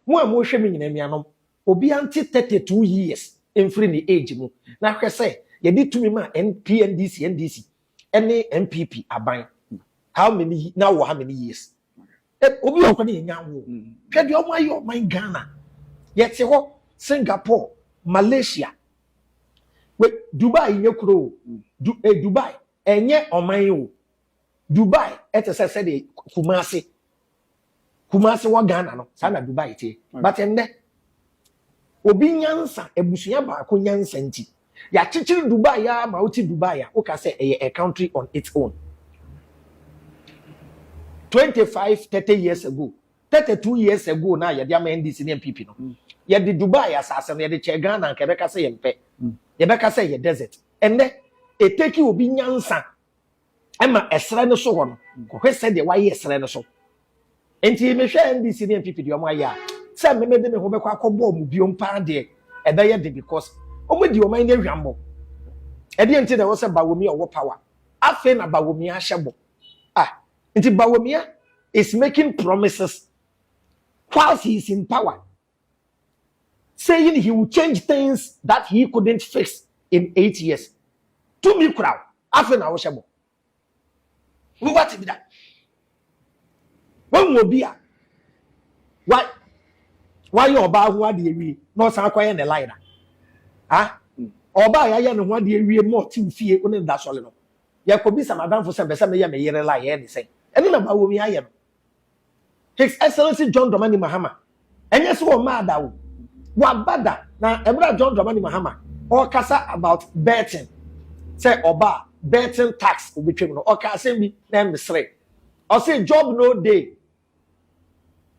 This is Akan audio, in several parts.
Mo a morehwɛ me nyina anuanom, obia nte 32 years mfiri ne age mu na hwɛ sɛ yɛde tumi ma NPNDC, NDC ne NPP aban how many ye na wowɔ how many years? Eh, obi wɔ hɔ ne yɛnya nwo. Hwɛ deɛ ɔmo ayɛ ɔman Ghana. Yɛte hɔ Singapore, Malaysia, we Dubai nyɛ kuro o, du, eh, Dubai ɛnyɛ ɔman o. Dubai ɛte sɛ sɛdeɛ Kumasi Kumasi wɔ Ghana no saa na Dubai teɛ mm. but ɛnɛ obi nyansa abusua baako nyansa nti yɛakyekyere Dubai a ma wote Dubai a woka sɛ ɛyɛ a country on its own twenty five thirty years ago thirty two years ago na yɛde ama NDC ne NPP no mm. yɛde Dubai asase no yɛde kyɛ Ghana nka yɛbɛka sɛ yɛmpɛ mm. yɛbɛka sɛ yɛ desert ɛnɛ eteki obi nyansa. ɛma ɛserɛ no so hɔ no kɔhwɛ sɛdeɛ wayɛ ɛserɛ no so nti mehwɛ ndc ne npp deɛ wɔayɛ a sɛ mmemme de me ho bɛkɔ akɔbɔ wɔn biom paa deɛ ɛbɛyɛ de because wɔn di wɔn ani ahwammɔ ɛdeɛ nti na ɛwɔ sɛ bawomia ɔwɔ power afei na bawomia ahyɛ bɔ ah nti bawomia is making promises whilst he is in power. saying he will change things that he couldn't fix in eight years tumi kura wo afei na wohyɛ bɔ wobɛkwate bi da wahu obi a wa wayɛ ɔbaa ho adeɛ wie na ɔsan akɔyɛ ne line a ah ɔbaa yɛayɛ ne ho adeɛ wie ma ɔte wo fie wo ne no da sɔre no yɛkɔbisa madamfo sɛ bɛsɛ meyɛ me yere la yɛyɛ ne sɛn ɛne na baa wɔmi ayɛ no His Excellency John Dramani Mahama ɛnyɛ sɛ wɔmmaa da o waba da na ɛberɛ a John Dramani Mahama ɔrekasa about betting sɛ ɔba a betting tax obɛtwam no ɔka asɛm bi na ɛmesere ɔse job no day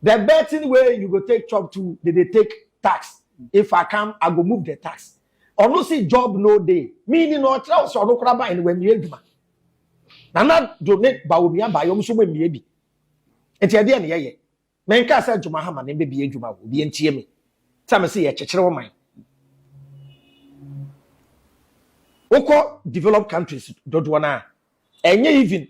the betting way you go take chop to they dey take tax if I come I go move the tax ɔno se job no day meaning ɔkyerɛ wo sɛ ɔno koraa ba ɛne wammie adwuma nana do ne ba onua baayɛ ɔmo so mo mmea bi nti ɛdeɛ ne yɛyɛ menkaa sɛ adwuma ha ma ne mbɛbie adwuma o obi ntie me sɛ me se yɛkyekyere wo man wokɔ developed countries dodoɔ no a ɛnyɛ even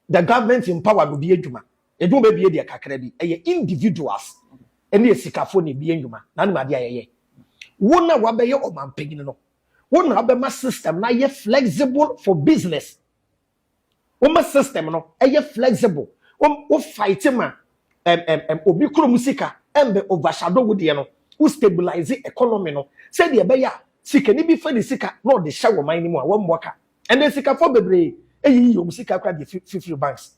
the government empowered obi adwuma ɛdu bɛbie deɛ kakra bi ɛyɛ individuals ɛne asikafo ne bie nnwuma na anim adeɛ a yɛyɛ wo na wabɛyɛ ɔmampanyini no Wo na wobɛma system no ayɛ flexible for business. Woma system no ɛyɛ flexible. Wo fight ma um, um, um, obi kuro mu sika ɛmbɛ overshadow wo deɛ no. Wo stabilize economy no sɛdeɛ ɛbɛyɛ a sikani bi fa ne sika na ɔde hyɛ wɔ man no mu a wɔmmɔ ka. Ɛnna sikafo bebree eyiyi wɔn sika kora de fifiri banks.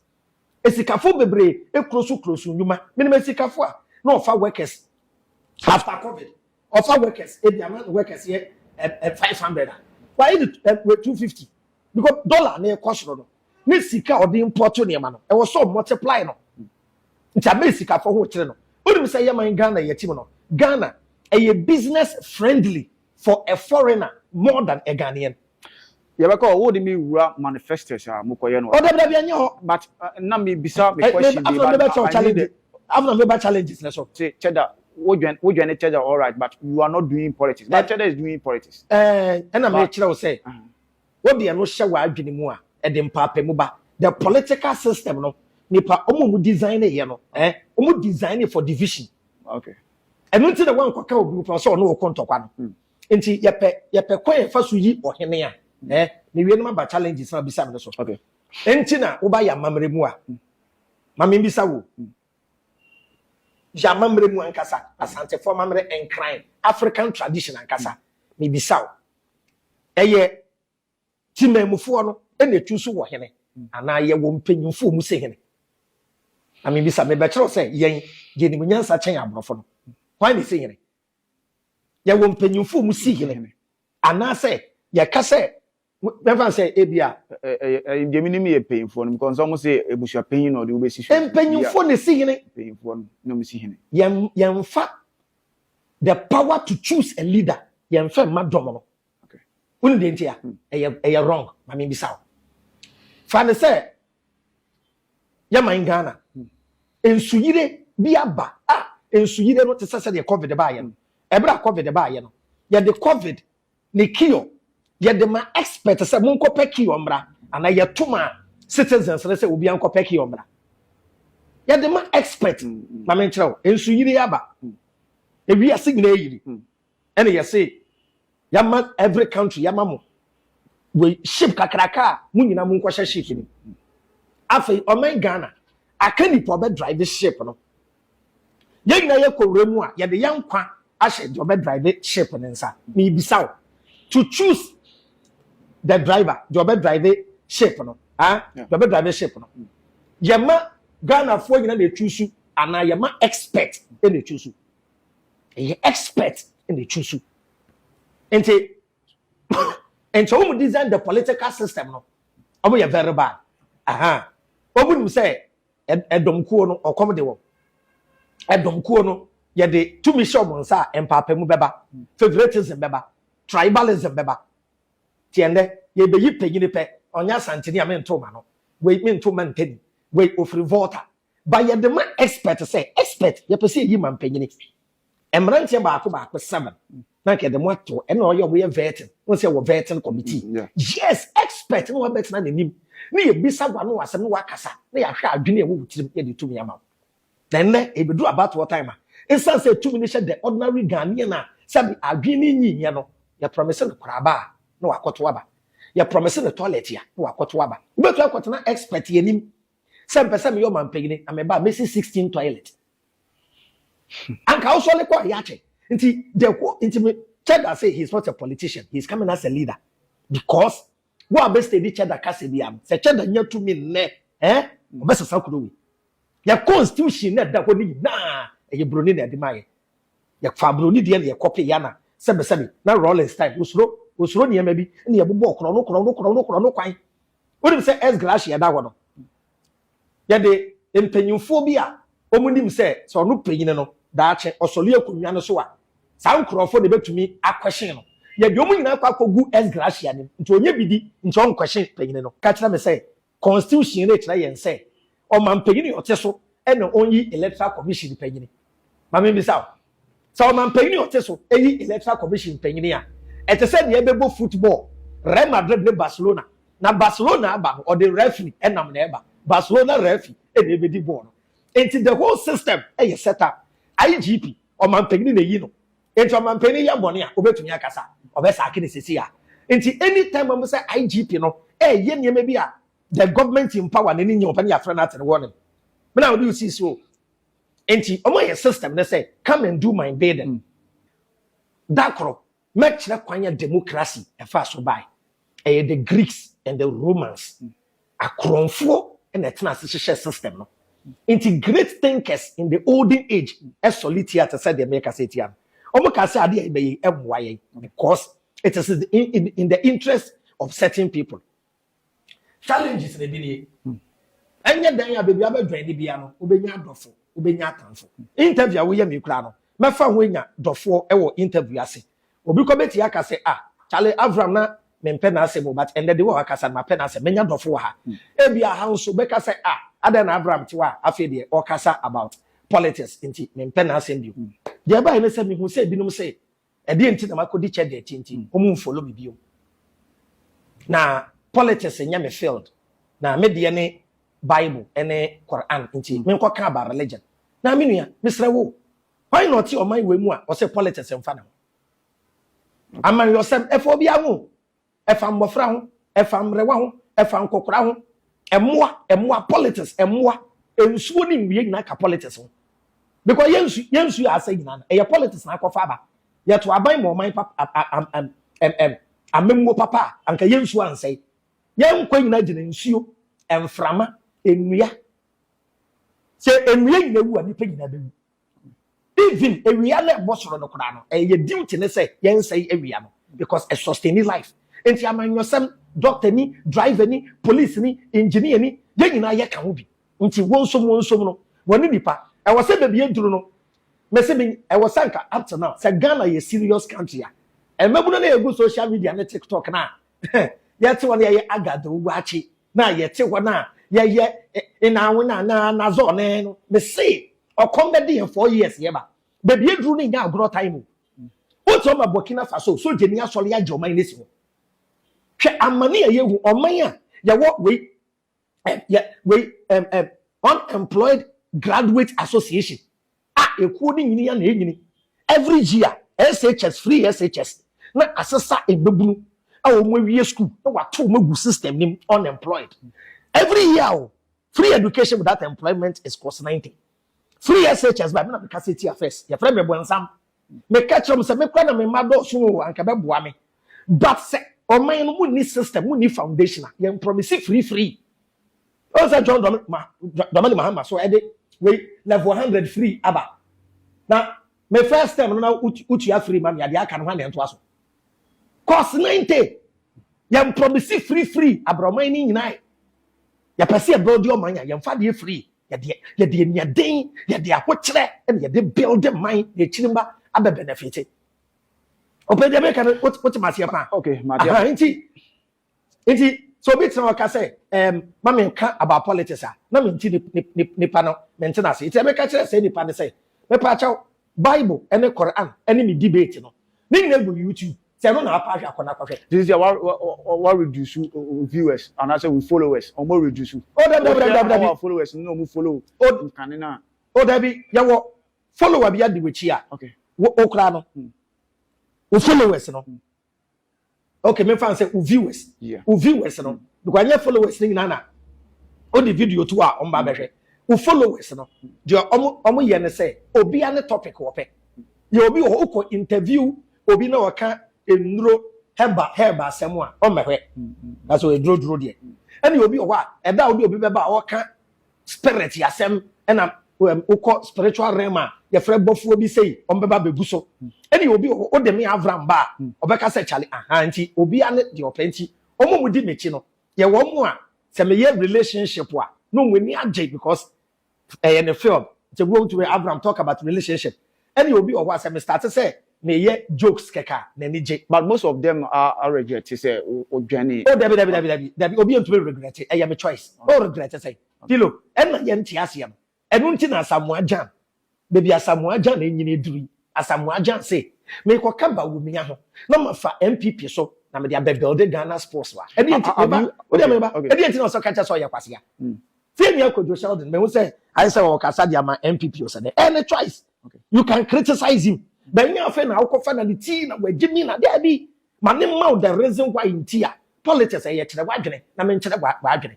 Esikafo bebree ekuro so kuro so nnwuma. Menim esikafo a na ɔfa workers after covid Ɔfa workers ebi ama ne workers yɛ ɛɛ five hundred a, wayɛ ne ɛɛ two fifty because dollar na ɛkɔ soro no ne sika a ɔde import nneɛma no ɛwɔ sɛ ɔmultiply no nti ama esikafo ho kyerɛ no. Wonim sɛ yɛ man Ghana yɛ team no Ghana ɛyɛ business friendly for a foreigner more than a Ghanaian. Yɛbɛka o, wo de me wura manifestors a mo kɔ yɛ no wɔ ha. O dabi dabi ɛnyɛ hɔ. But na me bisa me question de but now I need it. After na me ba challenges ne so. Say Cheda, wo dwen wo dwene Cheda alright but you are not doing politics but Cheda is doing politics. Ɛɛ ɛna me kyerɛ wo sɛ wo de ɛno hyɛ wa adwene mu a ɛde mpaapamu ba. The political system no nipa ɔmo ɔmo design yɛ no ɛɛ ɔmo design for division. Okay. Ɛno nti na wankɔ ka obi ho paa sɛ ɔne wo kɔ ntɔkwa no. Nti yɛpɛ yɛpɛ kwan yɛ fa so yi ɔhene a eh me wie na ma ba challenges na bisa me no so. Okay. Nti na wo ba yɛ amammerɛ mu a mm. ma me bisa wo mm. yɛ amammerɛ mu ankasa asantefo amammerɛ nkran African tradition ankasa mm. me bisa wo ɛyɛ timamufoɔ no ɛna etu so wɔ hene mm. anaa yɛ wɔ mpanyinfoɔ mu se hene na me bisa me bɛkyerɛw sɛ yɛn yɛn mu nyansa kyɛn aborɔfo no mm. why ne se hene yɛwɔ mpanyimfo mu si hene anaasɛ yɛka sɛ bɛmfa sɛ ebi a deɛ menim yɛ mpanyimfoɔ no because wɔn sɛ ebusua panyin na ɔde wobɛsi so mpanyimfoɔ na esi hene mpanyimfoɔ no na wɔn si hene yɛn yɛnfa the power to choose a leader yɛnfa mma dɔm no wone deɛ nti a ɛyɛ wrong ma mebisa wo fa ne sɛ yɛman ghana nsuyire bi aba a nsuyire no te sɛ sɛdeɛ covid baayɛ no ɛberɛ a covid baayɛ no yɛde covid ne kio yɛde ma expert sɛ monkɔpɛ kio mmra anaa yɛto ma citizens no sɛ obi ankɔpɛ kio mmra yɛde ma expert ma menkyerɛ wo nsuyire aba ewiase nyinaa yiri ɛne yɛse yɛama every country yɛama mo wei ship kakraka a mo nyina mo nkɔhyɛ ship no afei ɔman Ghana aka nipa ɔbɛ drive ship no yɛn nyina yɛkɔ wura mu a yɛde yɛn nkwa ahyɛ deɛ ɔbɛ drive ship no nsa meebisa wo to choose the driver deɛ ɔbɛ drive ship no ah deɛ ɔbɛ drive ship no yɛma Ghanafoɔ nyina na ɛtwusu anaa yɛma expert na ɛtwusu ɛyɛ expert na ɛtwi so nti nti wɔn design the political system no wɔn yɛ very bad ahan wɔn nim sɛ ɛdɔmkuo no ɔkɔm de wɔn ɛdɔmkuo no yɛde tumi hyɛ wɔn nsa a mpaapamu bɛba favoritism bɛba tribalism bɛba tiɛn dɛ yɛbɛyi panyini pɛ ɔnyɛ asanteni a mento ma no wei mento ma ntani wei ofiri volta Ba yɛde ma expert sɛ expert yɛpɛ sɛ yɛyi ma mpanyini. Mmeranteɛ baako baako seven na anka yɛde mo ato ɛna ɔyɛ ɔmo yɛ vetting wɔn sɛ wɔ vetting committee. Mm, yeah. Yes expert na wabɛtena n'anim na yɛbisa wa no asɛm na wakasa na yɛahwɛ adwene a ɛwɔ wo tirim yɛde tumi ama wo. Na ɛnɛ ɛbɛduru abatoɔ time a nsan sɛ tumi no hyɛ the ordinary Ghanaian a sɛbi adwene no nyi nyɛ no yɛ promise no koraba a na wakɔto aba. Yɛ promise no toilet a na wakɔto aba. Wobɛtumi akɔtena expert yɛ anim sɛ mpɛ sɛ meyɛ ɔmampanyini na meba a mesi sixteen toilet anka wosɔle kɔ a yɛakyɛ nti the whole nti me cheddar say he is not a politician he is coming as a leader because wo a bɛstedi cheddar kasa bia no sɛ cheddar nya tumi nnɛ eh ɔbɛsesa kuro wei yɛ constitution na ɛda hɔ no nyinaa ɛyɛ buroni na ɛde ma yɛ yɛfa buroni deɛ na yɛkɔpe yɛ na sɛbesɛbe na rollins time osuro osuro nneɛma bi na yɛbobɔ korɔ no korɔ no korɔ no korɔ no kwan Wonim sɛ S. Glacier a ɛda hɔ no, yɛde mpanyimfoɔ bi a wɔnim sɛ sɛ ɔno panyin no daakye ɔsɔre akonnwa no so a, saa nkurɔfoɔ na ɛbɛtumi akwɛhyen no. Yɛde wɔn nyinaa kɔ akɔgu S. Glacier anim nti ɔnyɛ biribi nti ɔnkwɛhyen panyin no. Ka kyerɛ me sɛ Constitution no rekyerɛ yɛn sɛ Ɔmanpanyin a ɔte so na onyi Electoral Commission panyin. Ma mimmisa wo, sɛ ɔmanpanyin a ɔte so yi Electoral Commission panyin a, ɛte sɛ nea ɛbɛbɔ football, Real Madrid ne Barcelona, na Barcelona aba no, ɔde referee nam na ɛba. Barcelona referee na ebedi bɔɔl no. Enti the whole system yɛ set up. IGP, ɔmanpanyin na eyi no. Enti ɔmanpanyin yɛ bɔne a, obetumi akasa? Ɔbɛsaake no seesei ara. Enti anytime a wɔbɛhu sɛ IGP no reyɛ nneɛma bi a the government in power na ne nyɛ ɔpɛ ne yɛafrɛ no atene warning me na wode wo sisi o nti ɔmo ayɛ system ne sɛ come and do my bidding da koro mɛkyerɛ kwan a democracy ɛfa so bae ɛyɛ the greeks and the romans akorɔmfoɔ na ɛtena ase hyehyɛ system no nti great thinkers in the olden age ɛsɔle tia te sɛ deɛ meka sɛ tia no ɔmo ka sɛ adeɛ a ɛbɛyɛ ɛmmoa yɛn because it is in, in, in the interest of certain people Challenges na ebi nie. Ɛnyɛ dan a baabi abɛdwɛn ne bia no, wobɛnya adɔfo, wobɛnya atamfo. Interview a woyɛ me koraa no, mɛfa ho anya dɔfoɔ wɔ interview ase. Obi kɔ bɛti aka sɛ, ah, Charlie Avram na mempɛ n'asɛm o, but ɛnɛ de wɔ akasa no, mapɛ n'asɛm, mɛnya dɔfo wɔ ha. Hmm. Ebia ha nso bɛka sɛ, ah, adɛn na Avram te hɔ a afei deɛ ɔkasa about politics nti mempɛ n'asɛm bio. Hmm. Deɛ ɛbaeɛ ne sɛ mehu sɛ ebinom sɛ Ɛdeɛn nti na makɔdi kyɛ deɛ akyi nti wɔn nfolo me biom na politics nyɛ me field na me deɛ ne bible ɛne Quran nti menkɔ ka aba religion na me nua mesrɛ wo why not ɔman wei mu a ɔsɛ politics mfa ne ho amanwiyɔsɛm ɛfa obiara ho ɛfa mmɔfra ho, ɛfa mmerewa ho, ɛfa nkɔkora ho, mmoa, mmoa, politics, mmoa, nsuo ne nnua nyinaa ka politics ho. Because yɛn nsu, yɛn nsuo a asɛ nyinaa no, ɛyɛ politics na akɔfa aba. Yɛto aban ma ɔman papa, a, a, am, am, am, am, amammuo papa a, anka yɛn nsuo ansɛe. Yɛn nkwa nyinaa gyina nsuo, mframa, nnua. Sɛ nnua nyinaa wu a, nnipa nyinaa bɛwu. even awia na ɛbɔ soro no koraa no ɛyɛ duty ne sɛ yɛnsɛe awia no because ɛ sustain life nti amanyɔsɛm doctor ni driver ni police ni engineer ni yɛn nyinaa yɛka ho bi nti wɔnsom wɔnsom no wɔne nipa ɛwɔ sɛ baabi aduru no mese me ɛwɔ sɛ nka up to now sɛ Ghana yɛ serious country a mmabunu na yɛgu social media ne tiktok no a yɛte wɔn yɛyɛ agadawu waakye na yɛte hɔ na yɛyɛ nnaawona anaa nazɔ ne no mese ɔkɔm bɛde yɛn four years yɛ ba baabi aduru no nyɛ agorɔ time mu wotu ama Burkina Faso sogyani asɔre agye ɔman no si hɔ hwɛ amane a yɛhu ɔman a yɛwɔ wei yɛ wei unemployed graduate association a ekuo no nyini ya na enyini every year SHS free SHS na asesa mmabunu a wɔn awie school na wato wɔn agu system no mu unemployed every year o free education without employment is cost ninety free SHS ba mi na mi kasa etia first yɛfrɛ mi ɛbɔnsam. meka kyerɛ mo sɛ me kora na me mma dɔɔso o anka bɛboa me but sɛ ɔman no mu ni system mu ni foundation a yɛn promise free free ɔn sɛ John Dwam ma Dwamani Mahama so ɛde wei level hundred free aba na me first term no na wotua free ma me adeɛ aka no hwan na ɛntoa so course ninety yɛn promise free free abrɛ ɔman no nyinaa yɛpɛ sɛ yɛbɛ ɔde ɔman a yɛn fa deɛ free yɛde yɛde aniaden yɛde ahokyerɛ na yɛde build man na akyiri mma abɛ benefit ɔpɛ deɛ meka no wote maseɛ paa okay madeɛ nti nti so obi tena ɔka sɛ ɛɛm ma me nka about politics a na me nti nipa no me ntena ase nti ɛmɛka kyerɛ sɛ nipa no sɛ mɛpa akyɛw Bible ne Qur'an ne ne debate no ne nyinaa gu YouTube sɛ ɛno na apa ahwɛ akɔ na kɔhwɛ. This year wa wa wa reduce viewers and I say we followers omo reduce. Oh dabi dabi dabi dabi. Our followers no omo follow. Oh nkane na. Oh dabi yɛ wɔ follower bi adi w'akyi a. Okay. Wo okura no. Wo followers no. okay me fan sɛ o viewers o viewers no because ɛnyɛ followers ne nyinaa na o de video to a ɔmo ba bɛhwɛ o followers no deɛ ɔmo ɔmo yɛ ne sɛ obia ne topic wɔpɛ yɛ obi wɔ hɔ okɔ interview obi na ɔka nnuro hɛba hɛba asɛm a ɔmmɛhwɛ na sɛ ɔyɛ duro duro deɛ ɛna obi wɔ hɔ a ɛda a ɔde obi bɛba a ɔka spirit yasɛm ɛna um, wokɔ spiritual realm a yɛfrɛ bɔfoɔ bi sei ɔmbɛba bɛbu so ɛne obi wɔ hɔ wode me avra mba a ɔbɛka sɛ kyale aha nti obia ne deɛ ɔpɛ nti ɔmo mu di m'akyi no yɛwɔ mu a sɛ meyɛ relationship a na ɔmo ani agye because ɛyɛ ne field nti wobɛtumi avram talk about relationship Ɛne obi wɔ hɔ a sɛ me starte sɛ me yɛ jokes kɛkɛ a n'ani gye. But most of them a regrɛte sɛ wo dwane. Oh dabi dabi dabi dabi dabi obi ntumi regrɛte ɛyɛ me choice oh regrɛte sɛn Philo ɛna yɛ nte aseɛ no ɛno nti na Asamoah Gyan baabi Asamoah Gyan ɛnyini aduru yi Asamoah Gyan se me kɔ ka Bawumia ho na ma fa NPP so na me de abɛ builde Ghana sports wa ɛdeɛ nti me ba wodeɛ me ba ɛdeɛ nti na ɔsɛ ka kyɛ sɛ ɔyɛ kwasea Tie nea Kojo Sheldon mehu sɛ ayɛ sɛ ɔkasa de ama NPP o sɛ dɛ ɛyɛ ne choice you can criticize him but nyɛ afei na wokɔfa na ne ti na wagye mi na daabi ma ne mma wo the reason why nti a politics ɛyɛ kyerɛ w'adwene na menkyerɛ w'adwene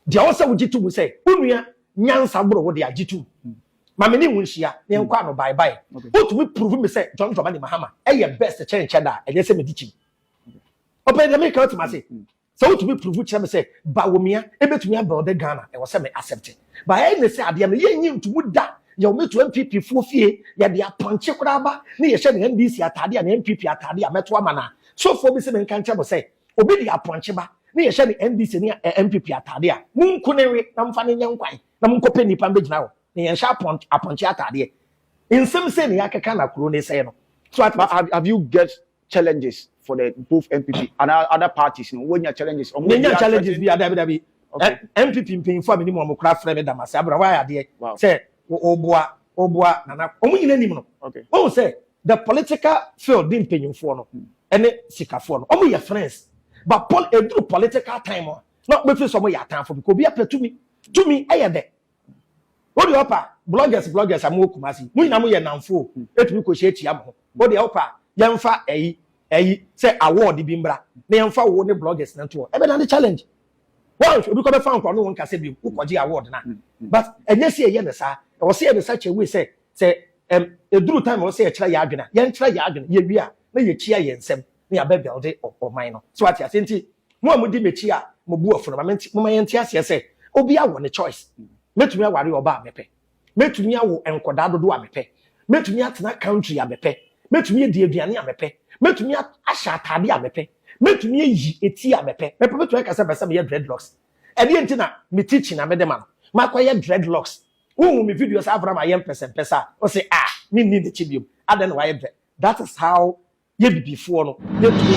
deɛ ɔwɔ sɛ wogye to mu sɛ wo nua nyansa boro wo de agye to mu ma me ne wo nhyia na yɛnkɔ ano bye bye wotumi prove me sɛ John Dramani Mahama ɛyɛ best kyɛnkyɛ da a ɛnyɛ sɛ medi kyim ɔpɛ deɛ meka wotim ase Sɛ wotumi prove kyerɛ me sɛ Bawumia ebetumi abuilde Ghana ɛwɔ sɛ me accept. But ɛyɛ ne sɛ adeɛ no yɛn nyi ntomu da yɛwɔ me to NPP foɔ fie yɛde apɔnkye koraa ba ne yɛhyɛ no NDC ataadeɛ anaa NPP ataadeɛ a mɛto ama no a so foɔ bi se menka nkyerɛ mo sɛ obi de apɔnkye ba ne yɛhyɛ no NDC ne NPP ataadeɛ a monku no nwe na momfa no nyɛ nkwan na monkɔpɛ nnipa mbɛgyina hɔ na yɛnhyɛ apɔnkye apɔnkye ataadeɛ nsɛm sei na yɛakeka na kuro no sɛe no so ate But have, have you get challenges for the both npp and other parties no wɔnya challenges ɔmo yɛnya challenges bi adabi dabi npp mpanyinfo a menim wɔn kora frɛ me damase abura wɔayɛ adeɛ sɛ ɔboa ɔboa nana wɔn nyina nim no wɔn sɛ the political field ne mpanyinfoɔ no ɛne hmm. sikafoɔ no wɔn yɛ friends but pol eduru political time a na wɔbɛfiri sɛ wɔn yɛ atanfo bi kò obi apɛ tumi tumi ɛyɛ dɛ Wodeɛ ɔpa bloggers bloggers a mowɔ Kumasi mo nyinaa moyɛ nnamfo o ɛtumi kɔ hyia tua moho wodeɛ ɔpa yɛnfa ɛyi ɛyi sɛ award bi mbra na yɛnfa wo ne bloggers no ntoɔ ɛbɛda ne challenge woanhwɛ obi kɔ bɛfa wo nkora no wo nkasɛ biom wokɔgye award no a but ɛnyɛ sɛ yɛyɛ no saa ɛwɔ sɛ yɛ ne such a way sɛ sɛ ɛm ɛduru time ɛwɔ sɛ yɛkyerɛ yɛ adwene a yɛnkyerɛ yɛ adwene yɛwie a na yɛkyia yɛn nsam ne aba aguade ɔman no. So wate aseɛ? Nti mo a modi m'akyi a mo bo afu no, ma me nte, momma yɛnte aseɛ sɛ, obiara wɔ ne choice. Mɛtumi aware ɔbaa a mepɛ. Mɛtumi awo nkɔdaa dodoɔ a mepɛ. Mɛtumi atena country a mepɛ. Mɛtumi adi aduane a mepɛ. Mɛtumi a, ahyɛ ataadeɛ a mepɛ. Mɛtumi ayi eti a mepɛ. Mepɛ, mɛtumi aka sɛ mepɛ sɛ meyɛ dreadlocks. Ɛdeɛn nti na me teaching na mede ma no? Makɔyɛ dreadlocks. Wonhu me videos a Avram ayɛ mpɛsɛmpɛsɛ a, ɔse, ah, menni n'akyi biom. Adɛn na wayɛ dread? That is how yɛ bibifoɔ no yɛntumi